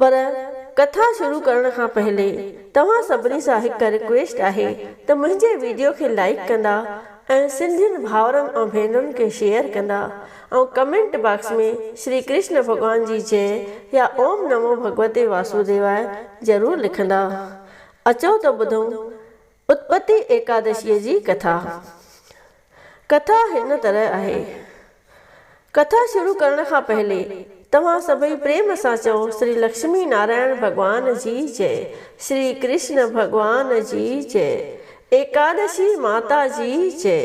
پر ڪٿا شروع ڪرڻ کان پهرين توهان سڀني سان هڪ رڪويسٽ آهي ته منهنجي ويڊيو کي لائيڪ ڪندا ۽ سنڌين ڀائرن ۽ ڀينرن کي شيئر ڪندا ۽ ڪمينٽ باڪس ۾ شري ڪرشن ڀڳوان جي جئه يا اوم نمو ڀڳوتي واسوديواء ضرور لکندا اچو ته ٻڌون اتپتي ايڪادشيء جي ڪٿا، ڪٿا هن طرح آهي، ڪٿا شروع ڪرڻ کان پهلي توهان سڀئي پريم سان چئو شري لڪشمي نارائڻ ڀڳوان جي جئه، شري ڪرشن ڀڳوان جي جئه، ايڪادشي ماتا جي جئه.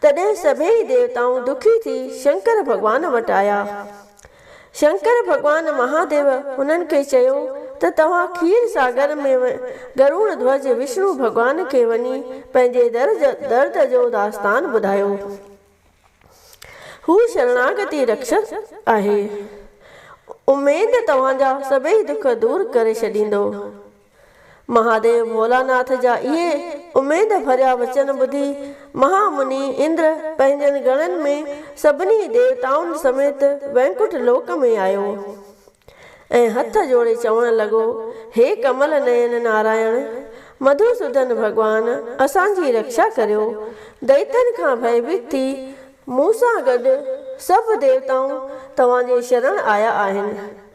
تڏهن سڀيئي ديوتائون دکي ٿي شنڪر ڀڳوان وٽ آيا. شنڪر ڀڳوان مهاديو هنن کي چيو ته توهان کير ساگر ۾ گروڻ ڌوج وشنو ڀڳوان کي وڃي پنهنجي درد جو داستان ٻڌايو. هو شرڻاگتي رکشڪ آهي. اميد توهان جا سڀيئي دک دور ڪري ڇڏيندو. مهاديو ڀولاناٿ جا اهي اميد ڀريا وچن ٻڌي مها مني اندر پنهنجن گڻن ۾ سڀني ديوتائن سميت وينڪٽ لوڪ ۾ آيو ۽ هٿ جوڙي چوڻ لڳو، هي ڪمل نين نارائڻ، مڌوسودن ڀڳوان اسان جي رڪشا ڪريو، دئيتن کان ڀئيڀيت ٿي مون سان گڏ سڀ ديوتائون توهان جي شرڻ آيا آهن.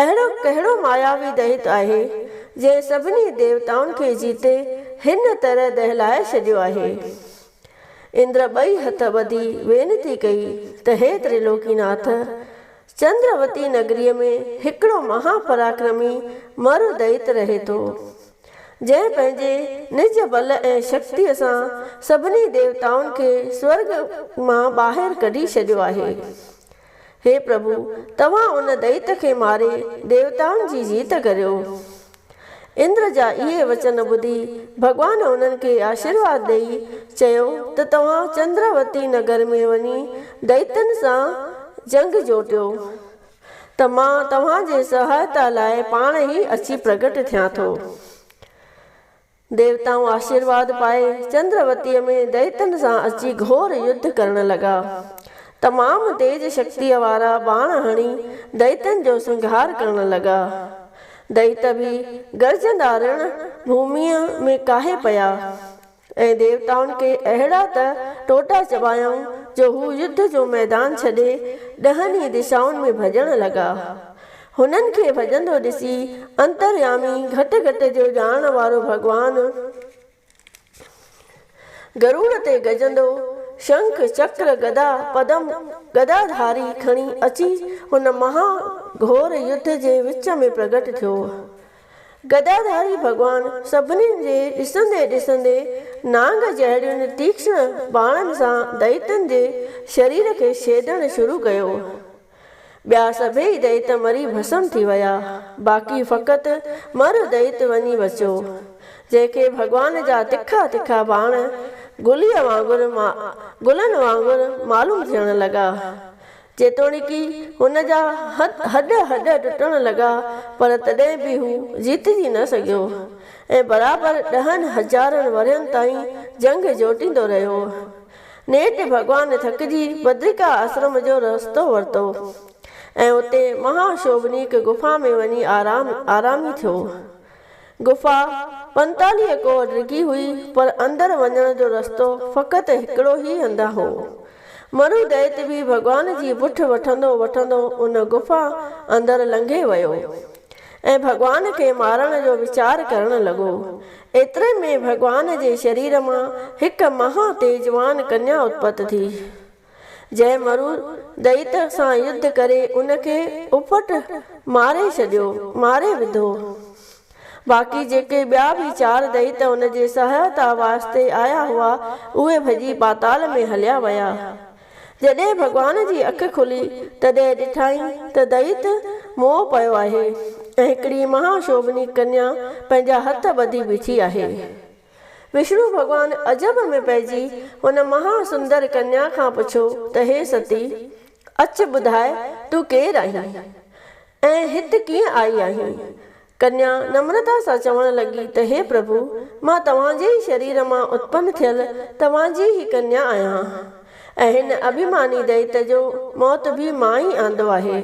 اهڙو ڪهڙو ماياوي دئيت آهي، جنهن سڀني ديوتائن کي جيتي هن طرح دهلائي ڇڏيو آهي؟ اندر ٻئي هٿ ٻڌي وينتي ڪئي ته هي تريلوڪيناٿ! چندروتي نگريء ۾ هڪڙو مها پراڪرمي مرو دئيت رهي ٿو، جنهن پنهنجي نج بل ۽ شڪتيء سان سڀني ديوتائن کي سورڳ مان ٻاهر ڪڍي ڇڏيو آهي. هي پرڀو، توهان ان دئيت کي ماري ديوتائن جي جيت ڪريو. اندر جا اهي وچن ٻڌي ڀڳوان انهن کي آشيرواد ڏئي چيو ته توهان چندراوتي نگر ۾ وڃي دئيتن سان جنگ جوٽيو ته مان توهان جي سهائتا لاء پاڻ ئي اچي پرگٽ ٿيان ٿو. ديوتائون آشيرواد پائي چندروتيء ۾ دئيتن سان اچي گهور يڌ ڪرڻ لڳا. تمام تيز شڪتيء وارا ٻاڻ هڻي دئيتن جو سنگهار ڪرڻ لڳا. دئيت به گرجندا رڻ ڀوميء ۾ ڪاهي پيا، ۽ ديوتائن کي اهڙا ته ٽوٽا چٻايائون جو هو يڌ جو ميدان ڇڏي ڏهن ئي دشائن ۾ ڀڄڻ لڳا. هنن کي ڀڄندو ڏسي انتريامي گهٽ گهٽ جو ڄاڻڻ وارو ڀڳوان گروڙ تي گجندو شنک، چڪر، گدا، پدم، گدا ڌاري کڻي اچي هن مها گهور يڌ جي وچ ۾ پرگٽ ٿيو. گدا ڌاري ڀڳوان سڀني جي ڏسندي ڏسندي نانگ جهڙين تيکشڻ ٻانهن سان دئيتن جي شرير کي ڇيدڻ شروع ڪيو. ٻيا سڀيئي دئيت مري ڀسم ٿي ويا، باقي فقط مر دئيت وڃي بچيو، جنهن کي ڀڳوان جا تکا تکا باڻ گليء وانگر گلن وانگر معلوم ٿيڻ لڳا. جيتوڻيڪ هن جا هڏ هڏ ٽٽڻ لڳا، پر تڏهن به هو جيتجي نه سگهيو ۽ برابر ڏهن هزارن ورهين تائين جنگ جوٽيندو رهيو. نيٺ ڀڳوان ٿڪجي بدرڪا آسرم جو رستو ورتو ۽ اتي مها شوڀنيڪ غفا ۾ وڃي آرام آرامي ٿيو. غفا پنتاليهه ڪوهه ڊگهي هئي پر اندر وڃڻ جو رستو فقط هڪڙو هي هنڌان هو. مرو دئيت به ڀڳوان جي بٺ وٺندو وٺندو ان غفا اندر لنگهي ويو. ۽ ڀڳوان کي مارڻ جو ويچار ڪرڻ لڳو. ايتري ۾ ڀڳوان جي شرير مان هڪ مها تيجوان ڪنيا اتپت ٿي، جنهن مرو دئيت سان يڌ ڪري ان کي اڦٽ ماري ڇڏيو، ماري وڌو. باقي جيڪي ٻيا به چار دئيت ان جي سهائتا واسطي آيا هئا، اهي ڀڄي پاتال ۾ هليا ويا. جڏهن ڀڳوان جي اک کلي تڏهن ڏٺائين ته دئيت مئو پيو آهي ۽ هڪڙي مها شوڀني ڪنيا پنهنجا هٿ ٻڌي بيٺي آهي. وشنو ڀڳوان عجب ۾ پئجي ان مها سندر ڪنيا کان پڇيو ته هي ستي! اچ ٻڌاء تون ڪير آهين ۽ هت ڪيئن آئي آهين؟ ڪنيا نمرتا سان چوڻ لڳي ته هي پرڀو! مان توهان جي ئي شرير مان اتپن ٿيل توهان جي ئي ڪنيا آهيان ۽ هن اڀيماني دئيت جو موت به مان ئي آندو آهي.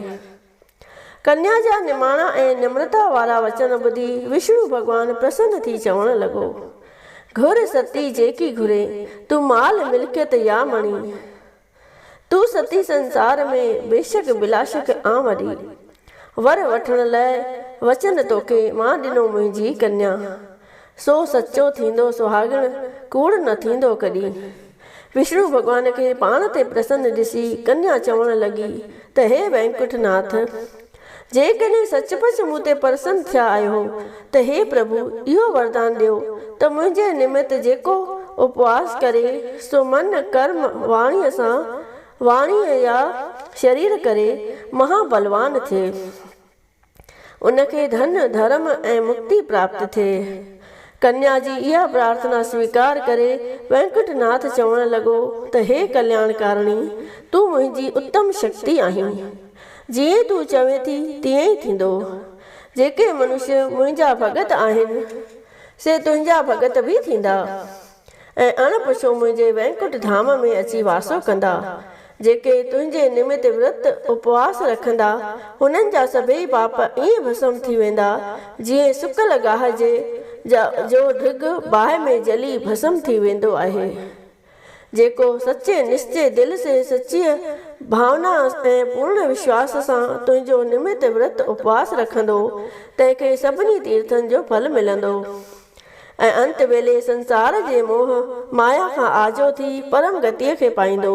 ڪنيا جا نماڻا ۽ نمرتا وارا وچن ٻڌي وشنو ڀڳوان پرسن ٿي چوڻ لڳو، گهر ستي جيڪي گهرين، تون مال ملڪيت يا مڻي، تون ستي سنسار ۾، بيشڪ بلاشڪ آن وڏي. ور وٺڻ لئه وچن توکي، مان ڏنو منهنجي ڪنيا. سو سچو ٿيندو سهاڳڻ، ڪوڙ نه ٿيندو ڪڏي. وشنو ڀڳوان کي پاڻ تي پرسن ڏسي ڪنيا چوڻ لڳي ته هي وينڪٺ ناٿ! جيڪڏهن سچ پچ مون تي پرسن ٿيا آهيو ته هي پرڀو اهو وردان ڏيو ته منهنجي نمت جيڪو اپواس ڪري سو من، ڪرم، واڻيء سان، واڻيء يا شرير ڪري، مها بلوان ٿئي. ان کي ڌن، ڌرم ۽ مڪتي پراپت ٿئي. ڪنيا جي اها پرارٿنا سويڪار ڪري وينڪٽ ناٿ چوڻ لڳو ته هي ڪلياڻڪارڻي! تون منهنجي اتم شڪتي آهين. جيئن تون چوين ٿي تيئن ئي ٿيندو. جيڪي منشي منهنجا ڀڳت آهن، سي تنهنجا ڀڳت به ٿيندا، ۽ اڻ پڇو منهنجي وينڪٽ ڌام ۾ اچي واسو ڪندا. جيڪي تنهنجي نمت ورت اپواس رکندا، هنن جا سڀيئي پاپ ائين ڀسم ٿي ويندا، جيئن سڪل گاهه جي جو ڍڳ باهه ۾ جلي ڀسم ٿي ويندو آهي. جيڪو سچي نشچي دل سي سچيء ڀاونا ۽ پورڻ وشواس سان تنهنجو نمت ورت اپواس رکندو، تنهن کي سڀني تيرٿن جو ڦل ملندو ۽ انت ويلي سنسار جي موهه مايا کان آجو ٿي پرم گتيء کي پائيندو.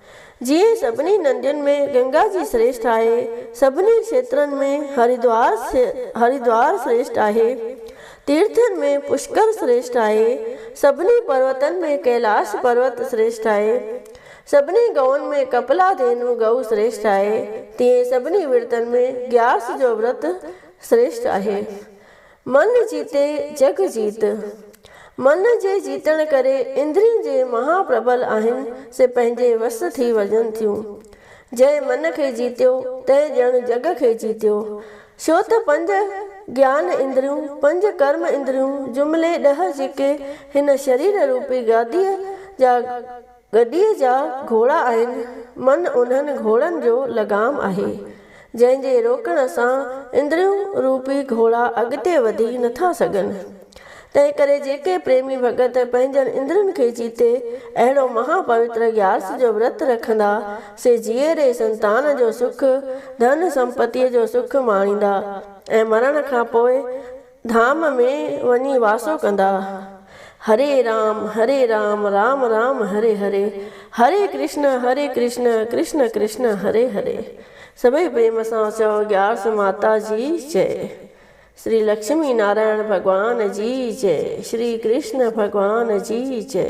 جيئن سڀني ندين ۾ گنگا جي سريشٽ آهي، سڀني کيترن ۾ هريدوار Haridwar سريشٽ آهي، تيرٿن ۾ پشڪر سريشٽ آهي، سڀني پروتن ۾ ڪيلاش پروت سريشٽ آهي، سڀني گئون ۾ ڪپلا دينو گئو سريشٽ آهي، تيئن سڀني ورتن ۾ گياس جو ورت سريشٽ آهي. من جيتي جگ جيت. من جي جيتڻ ڪري اندرين جي مها پربل آهن سي پنهنجي وس ٿي وڃن ٿيون. جنهن من کي جيتيو تنهن ڄڻ جڳ کي جيتيو. ڇو ته پنج گيان اندريون، پنج ڪرم اندريون جملي ڏهه جيڪي هن شرير روپي گاديء جا گڏيء جا گهوڙا آهن، من انهن گهوڙن جو لغام آهي، جنهن جي روڪڻ سان اندريون روپي گهوڙا اڳتي وڌي نٿا سگهن. تنهن ڪري جيڪي پريمي ڀڳت پنهنجن اندرين کي جيتي اهڙو مها پوتر گيارس جو ورت رکندا، سي جيئري سنتان جو سک، ڌن سمپتيء جو سک ماڻيندا ۽ مرڻ کان پوء، ڌام ۾ وڃي واسو ڪندا. هري رام هري رام رام رام هري هري هري ڪرشن هري ڪرشن ڪرشن ڪرشن هري هري سڀئي پريم سان چئو گيارس ماتا جي جئ شري لڪشمي نارائڻ ڀڳوان جي جئ شري ڪرشن ڀڳوان جي جئ.